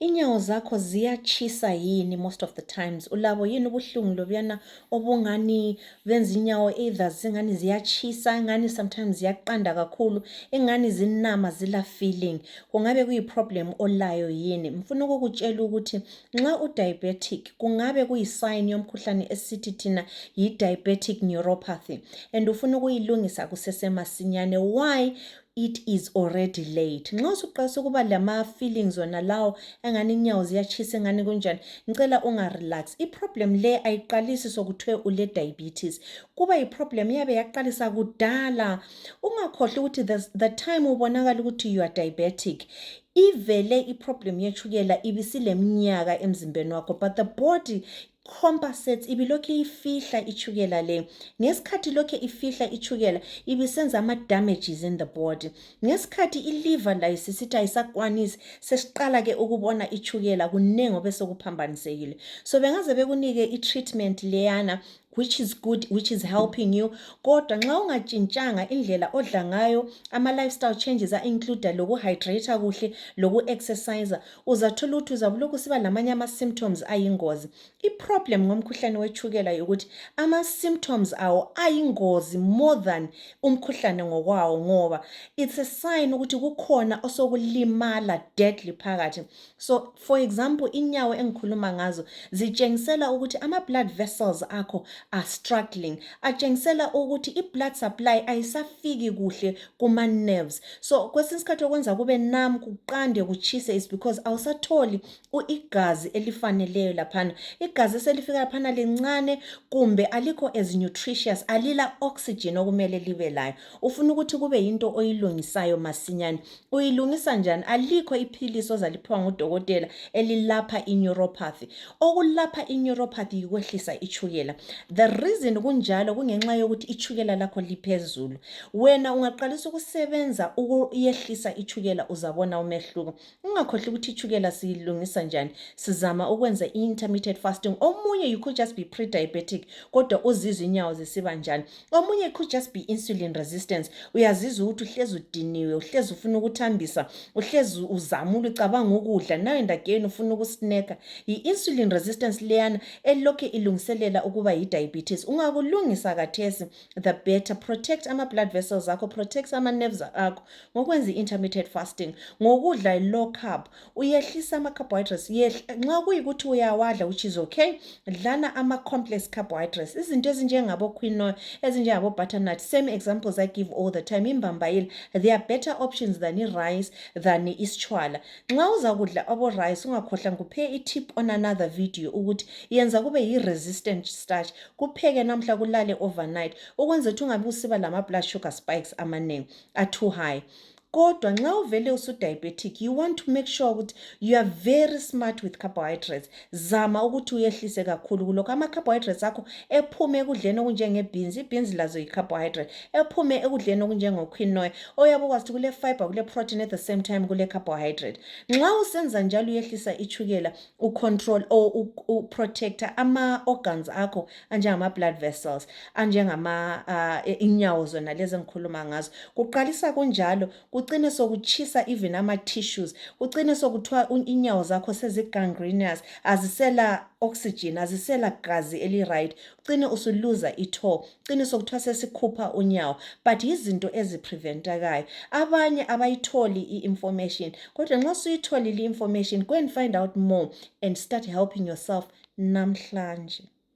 Inyawo zakho ziyatshisa yini most of the times? Ulabo yini ubuhlungu lobuyana obungani benza inyawo either zingani ziyatshisa, ingani sometimes ziyaqanda kakhulu, ingani zinama zila feeling. Kungabe kuyi problem olayo yini? Mfuna ukukutshela ukuthi nxa u diabetic kungabe kuyi sign yomkhuhlane esithi thina yi diabetic neuropathy and ufuna ukuyilungisa kusesemasinyane. Why? it is already late nxa usuqalisa ukuba lama-feelings wona lawo engani inyawo ziyatshisa engani kunjani ngicela ungarelax iproblem le ayiqalisi sokuthiwe ule-diabetes kuba yiproblem iyabe yaqalisa kudala ungakhohlwa ukuthi the, the time ubonakala ukuthi you are diabetic ivele iproblem yetshukela ibisileminyaka emzimbeni wakho but the body compensates ibilokhe ifihla itshukela le ngesikhathi lokhe ifihla itshukela ibisenza ama damages in the body ngesikhathi iliver layo sisithi ayisakwanisi sesiqala ke ukubona itshukela kunengi obesekuphambanisekile so bengaze bekunike i-treatment leyana which is good which is helping you kodwa nxa ungatshintshanga indlela odla ngayo ama lifestyle changes a include lokuhydrate kuhle loku exercise uzathola ukuthi uzabulokhu siba lamanye ama-symptoms ayingozi i-problem ngomkhuhlane wetshukela yokuthi ama-symptoms awo ayingozi more than umkhuhlane ngokwawo ngoba it's a sign ukuthi kukhona osokulimala deadly phakathi so for example inyawo engikhuluma ngazo zitshengisela ukuthi ama-blood vessels akho are struggling atshengisela ukuthi i-blood supply ayisafiki kuhle kuma nerves so kwesinye isikhathi okwenza kube nam kuqande kutshise is because awusatholi igazi elifaneleyo laphana igazi eselifika laphana lincane kumbe alikho as nutritious alila oxygen okumele libe layo ufuna ukuthi kube yinto oyilungisayo masinyane uyilungisa njani alikho iphilisi ozaliphiwa ngudokotela elilapha ineuropathy okulapha ineuropathy yikwehlisa itshukela the reason kunjalo kungenxa yokuthi itshukela lakho liphezulu wena ungaqalisa ukusebenza ukuyehlisa itshukela uzabona umehluko ungakhohlwa ukuthi itshukela siyilungisa njani sizama ukwenza i-intermittent fasting omunye you could just be pre-diabetic kodwa uzizwa inyawo zisiba njani omunye could just be insulin resistance uyazizwa ukuthi uhlezi udiniwe uhlezi ufuna ukuthambisa uhlezi uzamula ucabanga ukudla nayo ndageni ufuna ukusneka yi-insulin resistance leyana elokhe ilungiselela ukuba yi-diabetes ungakulungisa kathesi the better protect ama blood vessels akho protect ama nerves akho ngokwenza i-intermittent fasting ngokudla i-low carb uyehlisa ama-carbohydrates nxa kuyikuthi uyawadla which is okay dlana ama-complex carbohydrates izinto ezinjengabo-quinoa ezinjengabo-butternut same examples i give all the time imbambayile they are better options than i-rice than isitshwala nxa uzakudla abo-rice ungakhohlwa ngikuphe i-tip on another video ukuthi yenza kube yi-resistant starch kupheke namhla kulale overnight ukwenza ukuthi ungabe usiba lama blood sugar spikes amanengi a too high kodwa nxa uvele usudiabetic you want to make sure ukuthi you are very smart with carbohydrates zama ukuthi uyehlise kakhulu kulokho ama-carbohydrates akho ephume ekudleni okunjengebhinzi ibhinzi lazo yi-carbohydrate ephume ekudleni okunjengoquinoy oyabe ukwazi ukuthi kule-fiber kule-protein at the same time kule-carbohydrate nxa usenza njalo uyehlisa itshukela ucontrol or uprotector ama-organs akho anjengama-blood vessels anjengama uh, e, inyawo zona lezi engikhuluma ngazo kuqalisa kunjalo kucine sokutshisa even ama-tissues kucine sokuthiwa inyawo zakho sezigangrenous azisela oxygen azisela gazi eli-right cine usuluza itho cine sokuthiwa sesikhupha unyawo but yizinto ezipreventakayo abanye abayitholi i-information kodwa nxa suyitholile i-information go and find out more and start helping yourself namhlanje